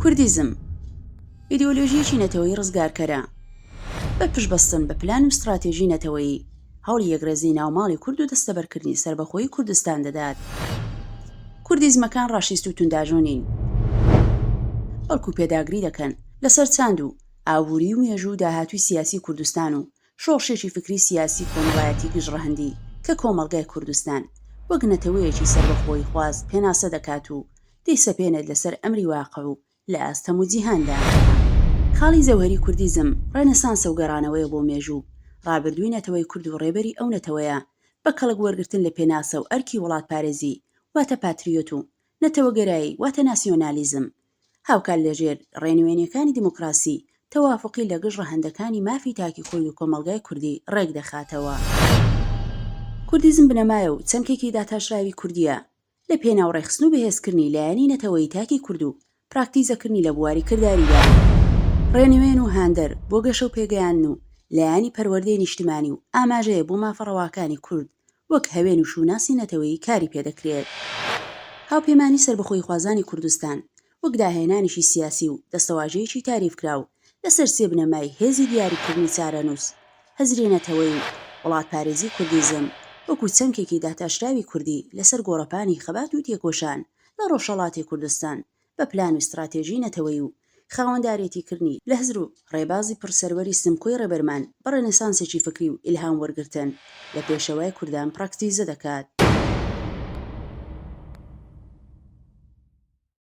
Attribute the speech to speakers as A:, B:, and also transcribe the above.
A: کوردیزم، ئیدۆلۆژییەکی نەتەوەیی ڕزگارکەرە، بە پشتبەستن بە پلان و ستڕاتێژی نەتەوەیی، هەوڵی یەکڕێزی ناوماڵی کورد و دەستەبەرکردنی سەربەخۆیی کوردستان دەدات. کوردیزمەکان ڕاشیست و تونداژۆ نین، بەڵکو پێداگری دەکەن لەسەر چاند و ئابووری و مێژوو و داهاتووی سیاسی کوردستان و شۆڕشێکی فکری سیاسی کۆمەڵایەتی گشت ڕەهەندی کە کۆمەڵگای کوردستان وەک نەتەوەیەکی سەربەخۆییخواز پێناسە دەکات و دەیسەپێنێت لەسەر ئەمری واقع و لە ئاستەم و جیهاندا. خاڵی جەوهەری کوردیزم، ڕێنێسانسە و گەڕانەوەیە بۆ مێژوو، ڕابردووی نەتەوەی کورد و ڕێبەری ئەو نەتەوەیە، بە کەڵک وەرگرتن لە پێناسە و ئەرکی وڵاتپارێزی، واتە پاتریۆت و نەتەوەگەرایی، واتە ناسیۆنالیزم. هاوکات لەژێر ڕێنوێنییەکانی دیموکراسی، تەوافقی لەگژ ڕەهەندەکانی مافی تاکی خۆی و کۆمەڵگای کوردی ڕێکدەخاتەوە. کوردیزم بنەمایە و چەمکێکی داتاشراوی کوردییە. لە پێناو ڕێکخستن و بەهێزکردنی لایەنی نەتەوەیی تاکی کورد و پراکتیزەکردنی لە بواری کرداریدا، ڕێنوێن و هاندەر بۆ گەشە و پێگەیاندن و لایەنی پەروەردەی نیشتمانی و ئاماژەیە بۆ مافە ڕەواکانی کورد وەک هەوێن و شووناسی نەتەوەیی کاری پێدەکرێت. هاوپەیمانیی سەربەخۆییخوازانی کوردستان وەک داهێنانێکی سیاسی و دەستەواژەیەکی تاریفکراو لەسەر سێ بنەمای هێزی دیاریکردنی چارەنووس، هزری نەتەوەیی و وڵاتپارێزی کوردیزم وەکو چەمکێکی داتاشراوی کوردی لەسەر گۆڕەپانی خەبات و تێکۆشان لە ڕۆژهەڵاتی کوردستان بە پلان و ستڕاتێژی نەتەوەیی و خاوەندارێتیکردنی لە هزر و ڕێبازی پڕ سەروەری سمکۆی ڕێبەرمان بە ڕێنێسانسێکی فکری و ئیلهام وەرگرتن لە پێشەوای کوردان پڕاکتیزە دەکات.